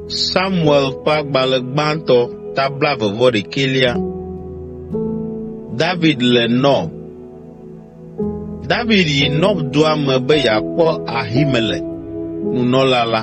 Samuel ƒe agbalẽ gbãtɔ ta blaeve vɔ ɖekɛlia. David le Nob. David yi Nob dua me be yeakpɔ Ahimelek, nunɔla la.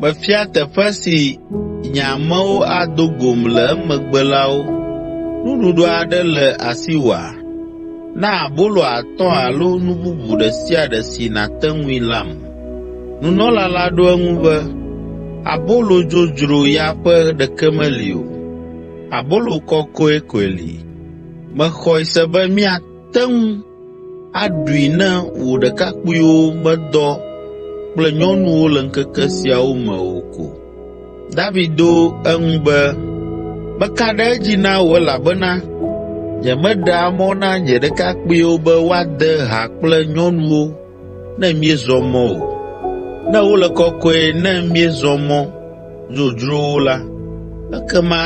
Mefia teƒe si nye amewo ado gom le emegbe la wo. Nuɖuɖu aɖe le asiwòa? Na abolo atɔ̃ alo nu bubu ɖe sia ɖe si nàte ŋui lam.” Nunɔla la ɖo eŋu be, “Abolo dzodzro ya ƒe ɖeke meli o. Abolo kɔkɔe koe li. Mexɔe se be mía àte ŋu aɖui ne wò ɖekakpuiwo medɔ kple nyɔnuwo le ŋkeke siawo me o ko.” David ɖo eŋu be, “Meka ɖe edzi na wò elabena nyemeɖea mɔ na nye ɖekakpuiwo be woade ha kple nyɔnuwo ne míezɔ mɔ o. Ne wole kɔkɔe ne míezɔ mɔ dzodzrowo la, ekema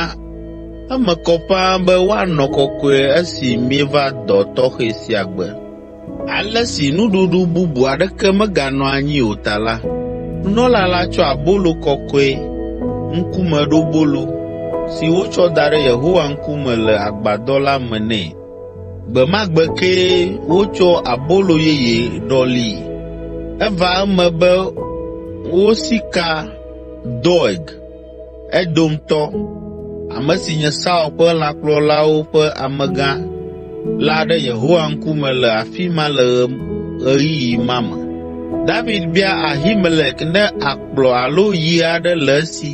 eme kɔ ƒãa be woanɔ kɔkɔe esi míeva dɔ tɔxɛ sia gbe. Ale si nuɖuɖu bubu aɖeke meganɔ anyi o ta la, nunɔla la tsɔ abolo kɔkɔe, Ŋkumeɖobolo, si wotsɔ da ɖe Yehowa ŋkume le agbadɔ la me nɛ. Gbe ma gbe kee wotsɔ abolo yeye ɖɔlii. Eva eme be wosi ka Doeg, Edomtɔ, ame si nye Saul ƒe lãkplɔlawo ƒe amegã la ɖe Yehowa ŋkume le afi ma le ɣeyiɣi ma me. David bia Ahimelek ne akplɔ alo yi aɖe le esi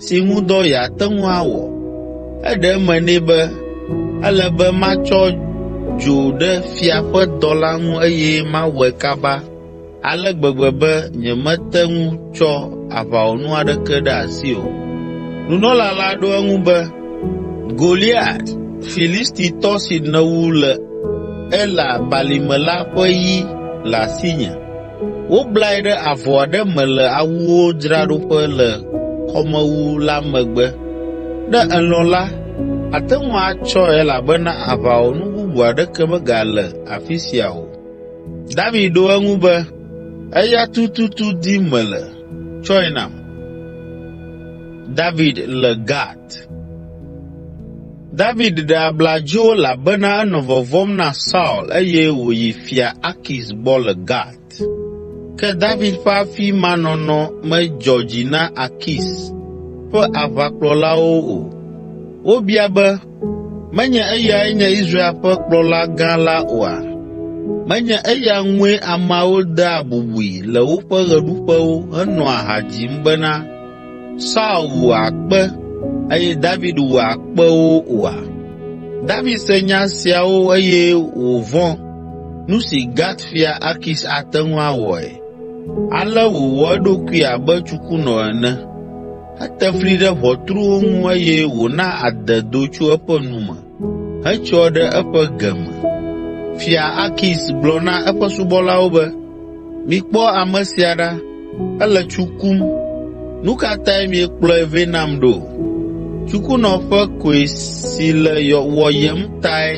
si ŋu dɔ yeate ŋu awɔ. Eɖe eme nɛ be, “Ele be matsɔ dzo ɖe fia ƒe dɔla ŋu eye mawɔe kaba ale gbegbe be nyemete ŋu tsɔ aʋawɔnu aɖeke ɖe asi o.” Nunɔla la ɖo eŋu be, “Goliat, Filistitɔ si nèwu le Ela balime la ƒe yi le asinye.” Woblae ɖe avɔ aɖe me le awuwo dzraɖoƒe le kɔmewu la megbe. Ne èlɔ̃ la, àte ŋu atsɔe elabena aʋawɔnu bubu aɖeke megale afi sia o.” David ɖo eŋu be, “Eya tututu dim mele. Tsɔe nam.” David ɖe abla dzo elabena enɔ vɔvɔ̃m na Saul eye wòyi Fia Akis gbɔ le Gat. Ke David ƒe afi ma nɔnɔ medzɔ dzi na Akis ƒe aʋakplɔlawo o. Wobia be, “Menye eyae nye Israel ƒe kplɔla gã la oa? Menye eya ŋue ameawo dea bubui le woƒe ɣeɖuƒewo henɔa ha dzim bena, Saul wu akpe, eye David wu akpewo oa? David se nya siawo eye wòvɔ̃ nu si Gat fia Akis ate ŋu awɔe. Ale wòwɔ eɖokui abe tsukunɔ ene. Ete fli ɖe ʋɔtruwo ŋu eye wòna ade do tso eƒe nu me. hetsyɔ ɖe eƒe ge me. Fia Akis gblɔ na eƒe subɔlawo be, “Mikpɔ ame sia ɖa! Ele tsu kum! Nu ka tae miekplɔe vɛ nam ɖo? Tsukunɔ ƒe koe si le wɔyem tae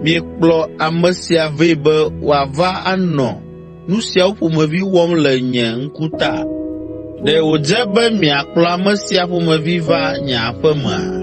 miekplɔ ame sia vɛ be wòava anɔ nu siawo ƒomevi wɔm le nye ŋku ta? Ɖe wòdze be miakplɔ ame sia ƒomevi va nye aƒe mea?”